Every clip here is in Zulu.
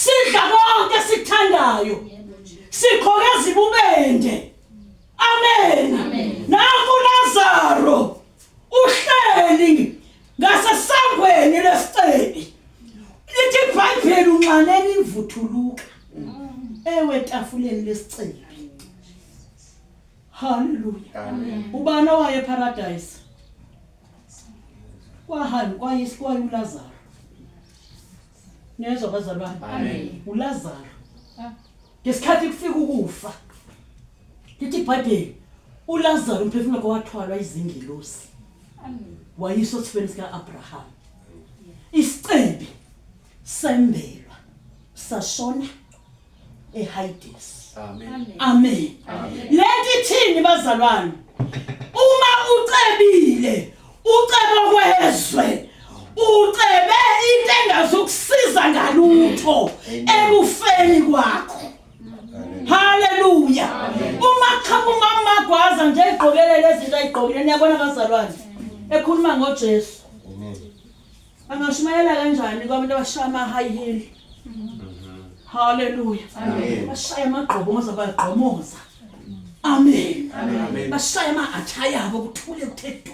sidla konke esikuthandayo sikhoke ezibubende amen nangu Lazaro uhleli ngasesangweni lesicebi lithi iBhayibheli unxaneni imvuthuluka ewe tafuleni lesicebi haleluya amen ubani owaye paradise kwahamba kwayisikwayulazaro Niyezwa bazalwane? Amen. ULazaro. Ah. Ngesikhathi kufika ukufa. Lithi iBhayibheli uLazaro umphefumulo wakhe wathwalwa izingelosi. Amen. Wayiso sifeni sika Abraham. Isicebi sembelwa sashona eHades. Amen. Amen. Lento ithini bazalwane? Uma ucebile, uceba kwezwe. Ucebe into engazokusiza ngalutho ekufeni kwakho. Haleluya. Uma qhamuka umama gwaza nje egqokele lezi zinto ayigqokile niyabona bazalwane. Ekhuluma ngoJesu. Angashumayela kanjani kwabantu abashaya ama high heel? Hallelujah. Amen. Bashaya amagqobo ngoze bagqomoza. Amen. Amen. Bashaya ama attire abo kuthule kuthe du.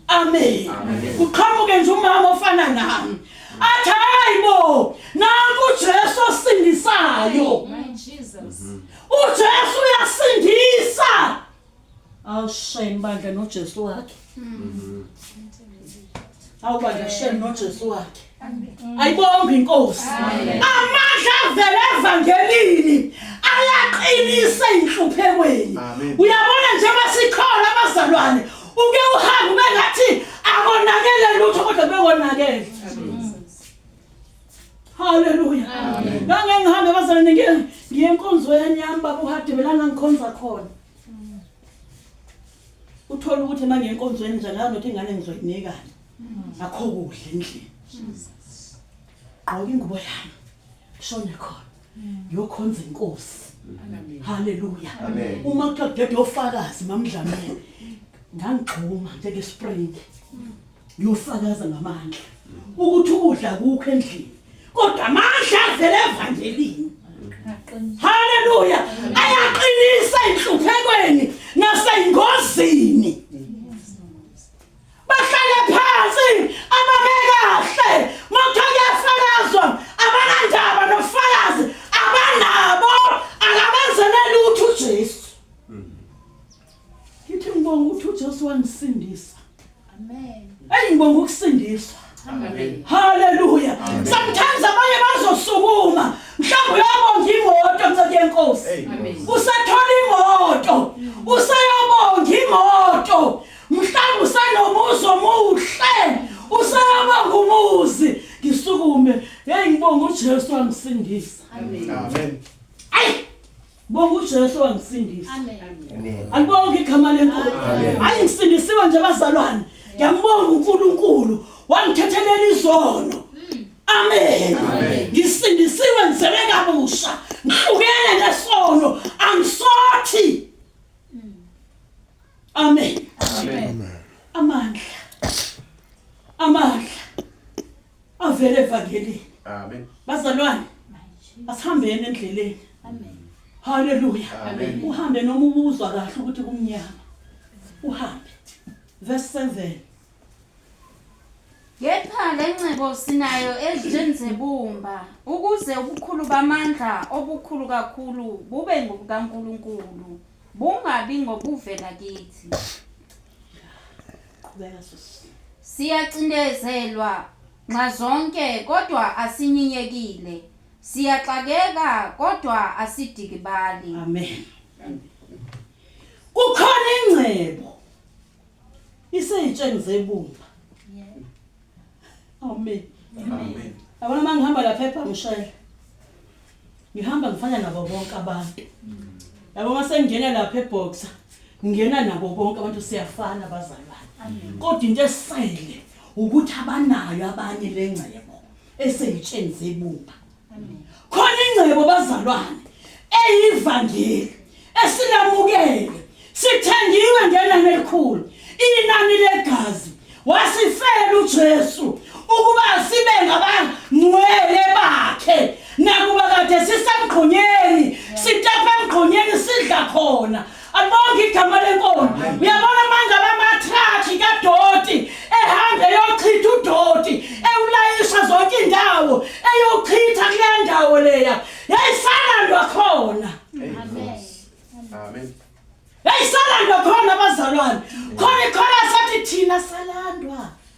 Amen. Kuqhamuke nje umama ofana nami. Athi hayibo, nanku uJesu osindisayo. My Jesus. UJesu uyasindisa. Awu shame bandla noJesu wakhe. Mhm. Awu bandla shame noJesu wakhe. Ayibonge inkosi. Amandla avela evangelini ayaqinisa inhluphekweni. Uyabona njengoba sikhona abazalwane uke uhambe ngathi akonakele lutho kodwa bekonakele. Hallelujah. Amen. Ngangeke ngihambe bazalwane ngiye ngiye enkonzweni yami baba uhadebe la ngangikhonza khona. Uthola ukuthi manje enkonzweni nje ngazi ukuthi ingane ngizoyinika. Akho kudla endlini. Gqoka ingubo yami. Shone khona. Ngiyokhonza inkosi. Hallelujah. Amen. Uma kuthiwa dede ofakazi mamdlamela. Ngangigxuma njengespring. uyofakaza ngamandla ukuthi ukudla kukho endlini kodwa amandla avela evangelini haleluya ayaqinisa enhluphekweni nasengozini bahlale phansi ababe kahle motho kuyafakazwa abanandaba nofakazi abanabo akabenzeleli uthu uJesu Ngithi ngibonga ukuthi uJesu wangisindisa. Amen. Hey ngibonga ukusindiswa. Amen. Hallelujah. Sometimes abanye bazosukuma. Mhlawumbe uyabonga imoto mnceke yenkosi. Usathola imoto. Usayabonga imoto. Mhlawumbe usanomuzi omuhle. Usayabonga umuzi. Ngisukume. Hey ngibonga uJesu wangisindisa. Amen. Amen. Ayi Bonga uJesu wangisindisa. Amen. Alibonke igama leNkosi. Hayi ngisindisiwe nje bazalwane. Ngiyambonga uNkulunkulu wangithethelela izono. Amen. Ngisindisiwe ngizele kabusha. Ngihlukene nesono. Angisothi. Amen. Amen. Amandla. Amandla. avele evangelini Amen. bazalwane asihambeni endleleni Amen. haleluya Amen. uhambe noma ubuzwa kahle ukuthi kumnyama uhambe verse 7 Kepha le ngcebo sinayo ezitsheni zebumba ukuze ubukhulu bamandla obukhulu kakhulu bube ngobukaNkulunkulu bungabi ngobuvela kithi. Qhubeka sisi. Siyacindezelwa nxazonke kodwa asinyinyekile. Siyaxakeka kodwa asidikibali. Amen. Kukhona ingcebo iseyitsheni zebumba. Amen. Amen. Yabona uma ngihamba lapha ebhamshela. Ngihamba ngifana nabo bonke abantu. Yabo uma sengingena lapha eboxer ngingena nabo bonke abantu siyafana bazalwane. Kodwa into esele ukuthi abanayo abanye lengcebo eseyitsheni zebumba. khona ingcebo bazalwane eyivangeli esilamukele sithengiwe ngenani elikhulu inani legazi wasifela uJesu ukuba sibe ngabangcwele bakhe nakuba kade sisemgqonyeni sitapha emgqonyeni sidla khona Alibonge igama lenkomo. Uyabona manje abamathrakhi kadoti ehambe eyochitha udoti ewulayisha zonke indawo eyochitha kule ndawo leya. Yayisala ndo khona. Amen. Amen. Yayisala ndo khona abazalwane. Khona ikhona sathi thina salandwa.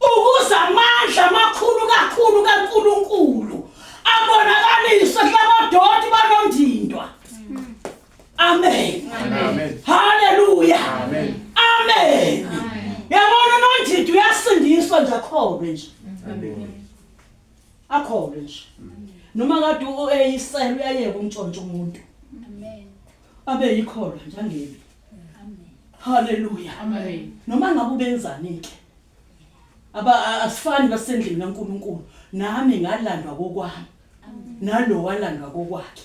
Ukuze amandla amakhulu kakhulu kaNkulunkulu abonakaliswe kulabadoti banomndindwa. Amen. Amen. Hallelujah. Amen. Amen. Yabona unondindwa uyasindiswa nje akholwe nje. Akholwe nje. Noma kade ueyisela uyayeka umtshontsho umuntu. Amen. Abe yikholwa nje angebe. Amen. Hallelujah. Amen. Noma ngabe ubenzani ke. aba asifani basendlini kaNkuluNkulu nami ngalandwa kokwami nalo walandwa kokwakhe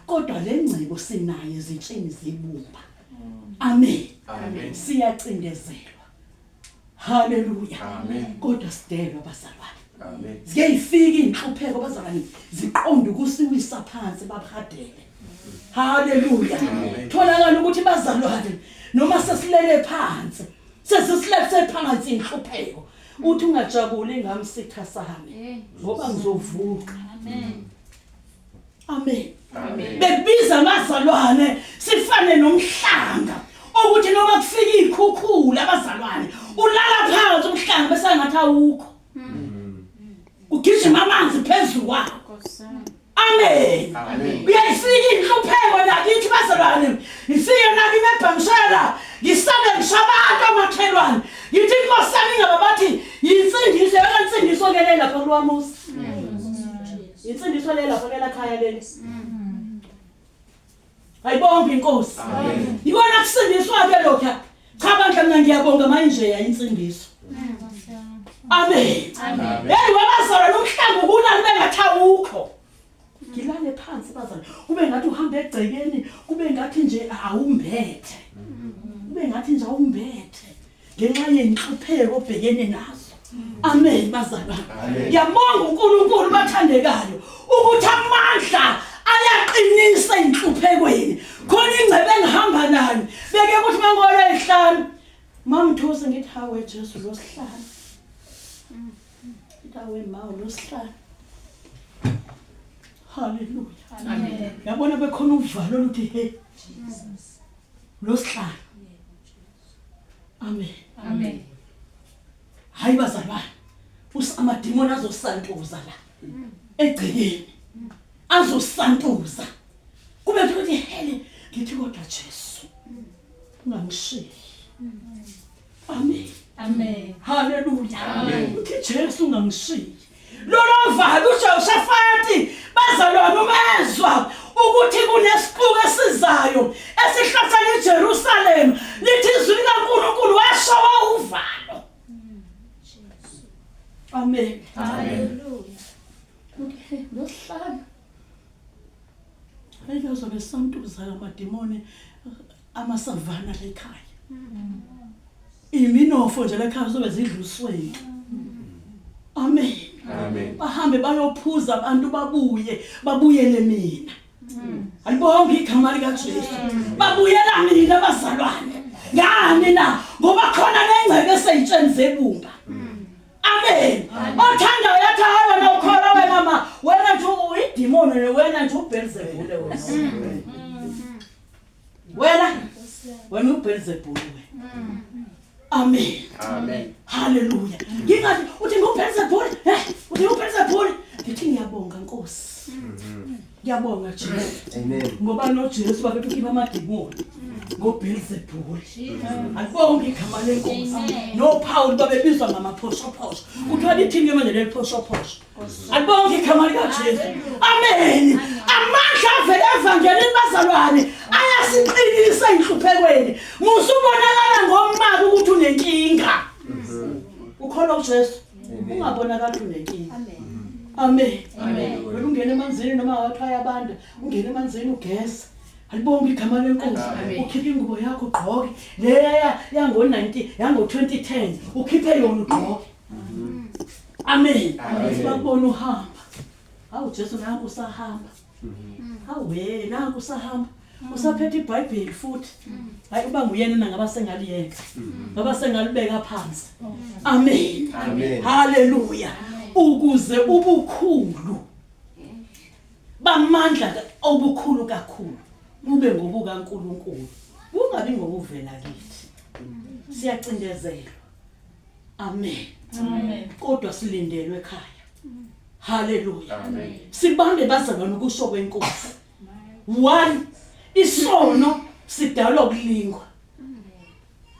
kodwa lengcebo sinayo ezitsheni zebumba amen amen siyacindezelwa haleluya amen kodwa sidelwa bazalwane amen ziyayifika inhlupheko bazalwane ziqonda ukusiwisa phansi babhadele haleluya tholakala ukuthi bazalwane noma sesilele phansi sesisilethise phakathi inhlupheko uthi ungajabuli ngami sitha sami ngoba ngizovuka amen amen bebiza amazalwane sifane nomhlanga ukuthi noma kufika ikhukhula abazalwane ulala phansi umhlanga bese ngathi awukho hmm. ugijima amanzi phezulu wakho Amen. Amen. Uyayifika inhlupheko nakithi bazalwane. Ifike nami mebhamshela. Ngisabe ngishabantu amakhelwane. Ngithi inkosi yami ngaba bathi yinsindiso yona insindiso ke le lapha kulwamusi. Insindiso le lapha ke la khaya leli. Ayibonge inkosi. Amen. Yikona kusindiswa ke lokho. Cha bandla mina ngiyabonga manje yayinsindiso. Amen. Amen. Hey wabazalwa nomhlangu kunani bengathawukho. Ngilale phansi bazalwa. Kube ngathi uhamba egcekeni, kube ngathi nje awumbethe. Kube ngathi nje awumbethe. ngenxa yenhlupheko obhekene nazo amen bazalwa ngiyabonga uNkulunkulu bathandekayo ukuthi amandla ayaqinisa inhluphekweni khona ingcebe engihamba nayo beke ukuthi mangolo ehlanu mamthusa ngithi hawe Jesu losihlanu ndawe mawo losihlanu haleluya amen yabona bekhona uvalo oluthi hey Jesus losihlanu Amen. Amen. Hayi bazalwane. Usamadimoni azosantuza la. Egcekeni. Azosantuza. Kube kuthi hele ngithi kodwa Jesu. Ungangishiyi. Amen. Amen. Hallelujah. Amen. Uthi Jesu ungangishiyi. Lolovalo uJoshafati bazalwane umezwa ukuthi kunesixuku esizayo esihlasela iJerusalem lithi izwi likaNkulunkulu washo wawuvalo Amen Hallelujah Okay nohlala Ayike uzobe santuza lamadimoni amasavana lekhaya iminofo nje lekhaya sobe zidlusweni amen amen bahambe bayophuza abantu babuye babuyele mina alibonga igama likaJesu babuyela mina bazalwane ngani na ngoba khona nengcebe eseyitsheni zebumba amen othanda uyathi hayi wena ukholwa wena ma wena nje uyidimoni wena nje ubhelzebule wena wena wena uBelzebul mm. amen amen haleluya ngingathi uthi nguBelzebul eh uthi uBelzebul ngithi ngiyabonga nkosi mm-hmm. ngiyabonga Jesu amen ngoba noJesu babethi ukhipha amademoni ngoBelzebul akubonga igama lenkosi noPaul babebizwa ngamaphoshophoso kuthiwa lithini ke manje leli phoshophoso Alibonge igama likaJesu. Amen. Amandla avela evangelini bazalwane ayasiqinisa inhluphekweni. Musa ubonakala ngomaka ukuthi unenkinga. Ukholwa uJesu. Ungabonakala unenkinga. Amen. Amen. Amen. Wena ungena emanzini noma wathaya abantu, ungena emanzini ugeza. Alibonge igama lenkosi. Ukhiphe ingubo yakho ugqoke. Leya yango-19 yango-2010 ukhiphe yona ugqoke. amen Amen. bakubona uhamba hawu jesu nanku usahamba hawu we nanku usahamba usaphethe ibhayibheli futhi hayi uba nguyena na ngaba sengaliyeka ngaba sengalibeka phansi amen Amen. haleluya ukuze ubukhulu bamandla ka- obukhulu kakhulu bube ngobukaNkuluNkulu kungabi ngokuvela kithi siyacindezelwa Amen. Amen. Kodwa silindelwe ekhaya. Hallelujah. Amen. Sibambe bazalwane ukusho kwenkosi. 1 isono sidalwa ukulingwa.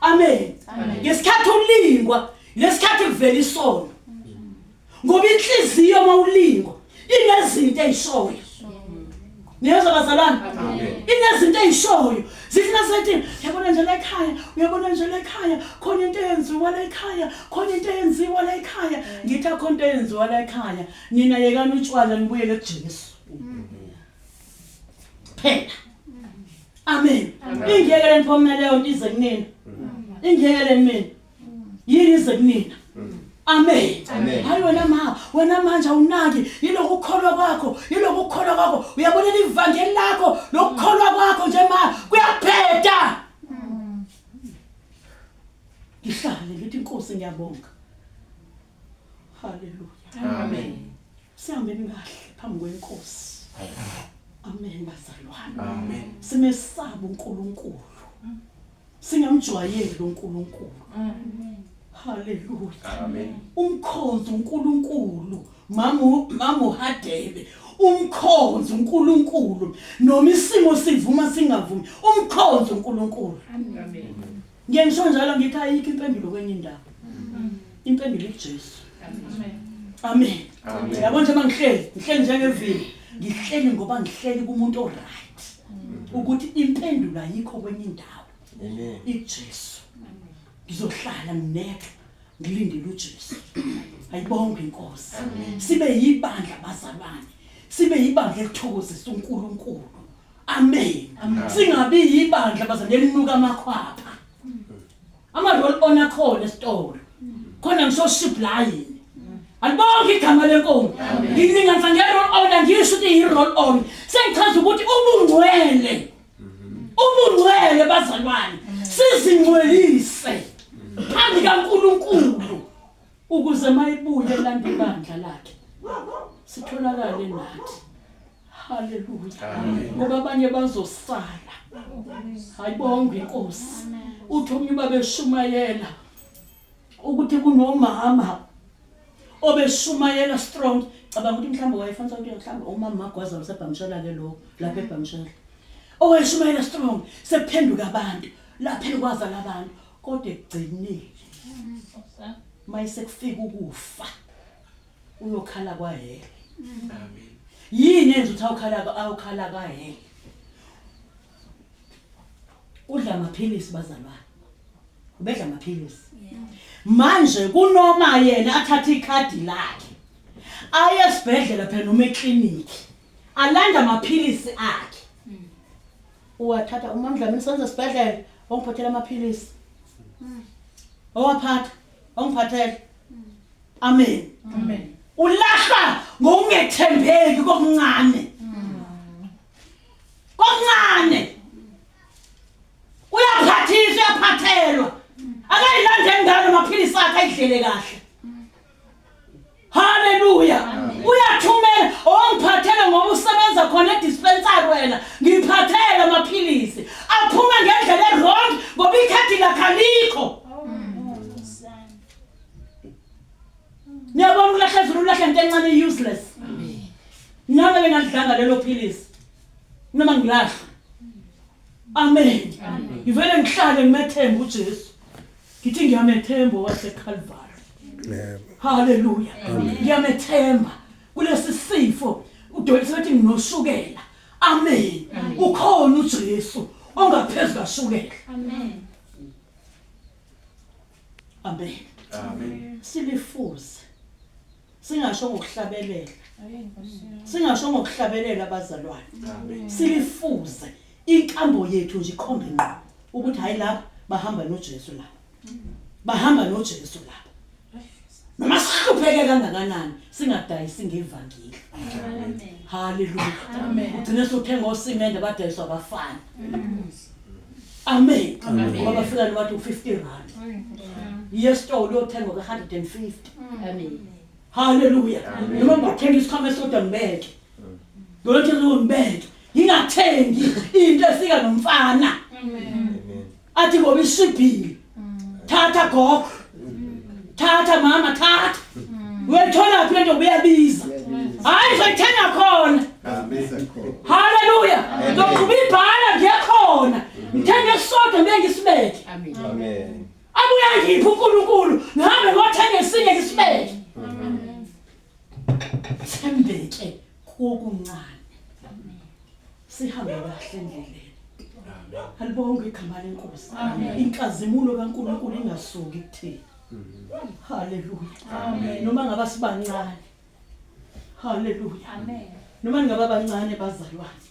Amen. Ngesikhathi ulingwa, lesikhathi kuvela isono. ngoba inhliziyo mawulingo inezinto ezishoyo niyezwa bazalwane inezinto ezishoyo zifuna sethi yabona nje la ekhaya uyabona nje la ekhaya khona into eyenziwa la ekhaya khona into eyenziwa la ekhaya ngithi akhona into eyenziwa la ekhaya nina yekani utshwala nibuyele kuJesu phela amen ingeke leniphomela leyo nto ize kunina ingeke leni mina yini ize kunina amen hayi wena ma wena manje awunaki yilokhu ukukholwa kwakho yilokhu ukukholwa kwakho uyabona ivangeli lakho lokukholwa kwakho nje ma kuyaphetha ngihlale ngithi inkosi ngiyabonga Hallelujah. Amen. Sihambeni kahle phambi kwenkosi. Amen bazalwane. Amen. Simesaba uNkulunkulu. Singamjwayeli uNkulunkulu. Amen. Hallelujah. Amen. Umkhonzi uNkulunkulu. Mamu mamu hadebe. Umkhonzi uNkulunkulu. Noma isimo sivuma singavumi. Umkhonzi uNkulunkulu. Amen. Ngiye ngisho njalo ngithi ayikho impendulo kwenye indawo. Impendulo ikuJesu. Amen. Amen. Yabona nje mangihleli, ngihleli njengevini. Ngihleli ngoba ngihleli kumuntu oright. Ukuthi impendulo ayikho kwenye indawo. Amen. IJesu. Ngizohlala nginethwe ngilindele uJesu. Ayibonge inkosi. Sibe yibandla bazalwane. Sibe yibandla elithokozisa uNkulunkulu. Amen. Amen. Singabi yibandla bazane elinuka amakhwapha. Ama roll on akhona esitolo. Khona ngisho supplying. Alibonke igama lenkomo. Ngilinganisa nge roll on angisho ukuthi yi roll on. Sengichaza ukuthi ubungcwele. Ubungcwele bazalwane. Sizingcwelise. Phambi kaNkuluNkulu ukuze mayibuye lande ibandla lakhe. Sitholakale nathi. Haleluya. Ngoba abanye bazosala. Hayibonga inkosi. Uthi omunye babeshumayela ukuthi kunomama obeshumayela strong cabanga ukuthi mhlawumbe wayefanisa ukuthi mhlawumbe umama magwaza usebhamshela ke lo lapha ebhamshela owayeshumayela strong sekuphenduka abantu lapha elikwaza labantu kodwa ekugcinile mayisekufika ukufa uyokhala kwahele amen yini enza ukuthi awukhala awukhala kwahele udla amaphilisi bazalwane ubedla amaphilisi manje kunoma yena athatha ikhadi lakhe aye esibhedlela phela noma eklinikhi alanda amaphilisi akhe uwathatha umamdlamini senze esibhedlela ongiphathela amaphilisi owaphatha Ongiphathele. Amen. Amen. Ulahlwa ngokungethembeki kokuncane. Kokuncane. Uyaphathiswa, uyaphathelwa. Akayilandeni ngalo maphilisi akhe ayidlele kahle. Hallelujah. Uyathumela ongiphathele ngoba usebenza khona edispensary wena. Ngiphathele amaphilisi. Aphuma ngendlela ewrong ngoba ikhadi lakhe alikho. Niyabona ukulahle zulu ulahle into encane useless. Nami bengalidlanga lelo philisi. Noma ngilahle. Amen. Ngivele ngihlale ngimethembe uJesu. Ngithi ngiyamethemba waseKalvari. Yebo. Haleluya. Ngiyamethemba kulesi sifo udokotela sethi nginoshukela. Amen. Ukhona uJesu ongaphezulu kashukela. Amen. Amen. Amen. Silifuze singasho ngokuhlabelela singasho ngokuhlabelela abazalwane silifuze inkambo yethu nje ikhombe ngqo ukuthi hayi lapha bahamba noJesu lapha bahamba noJesu lapha noma sihlupheke kangakanani singadayisi ngevangeli haleluya ugcine sothenga osimende badayiswa abafana amen ngoba bafika nobathi u-50 rand yesitolo uyothenga ka-150 Amen. Hallelujah. Amen. Noma ngathenga isikhwama esodwa ngibeke. Ngolothe lo ngibeke. Ngingathengi into efika nomfana. Amen. Athi ngoba isibhili. Thatha gogo. Thatha mama thatha. Uyathola phi lento uyabiza. Hayi ngithenga khona. Hallelujah. Ngokuba ibhala ngiyakhona. Ngithenga isodwa ngibe ngisibeke. Amen. Amen. Abuye angiphe uNkulunkulu ngihambe ngothenga esinye isibeke. Thembeke kokuncane. Sihambe kahle endleleni. Alibonge igama lenkosi. Inkazimulo kaNkulunkulu ingasuki kuthina. Haleluya. Amen. Noma ngaba sibancane. Haleluya. Amen. Noma ngaba bancane bazalwane.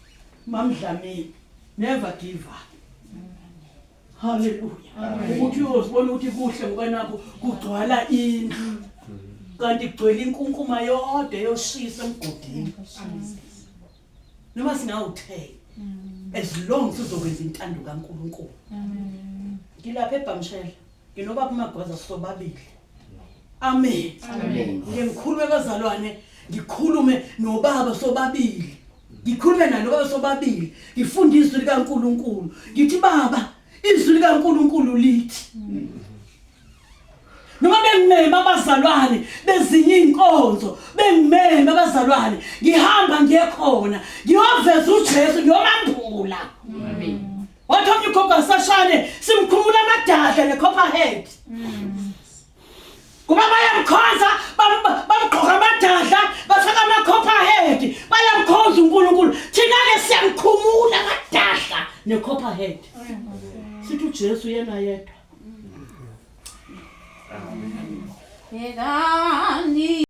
Mamdlamini. Never give up. Hallelujah. Amen. Ukuthi uyozibona ukuthi kuhle ngoba nakho kugcwala indlu. Kanti kugcwele inkunkuma yodwa yoshisa emgodini. Noma singawuthela as long sizokwenza intando kaNkuluNkulu. Amen. Ngilapha eBhamshela. Nginoba kumagwaza sobabili. Amen. Amen. Ngimkhulu webazalwane ngikhulume nobaba sobabili. ngikhulume nalo baba sobabili ngifunde izwi likaNkuluNkulu ngithi baba izwi likaNkuluNkulu lithi noma bengimeme abazalwane bezinye inkonzo bengimeme abazalwane ngihamba ngiyekhona ngiyoveza uJesu ngiyomambula amen wathi omnye ugogo asashane simkhumula amadadla ne copper head mm. kuba bayamkhonza bamgqoka amadadla bafaka ama-copper head bayamkhonza unkulunkulu thina-ke siyamkhumula amadadla ne-copper head sithi ujesu yena yedwa yekani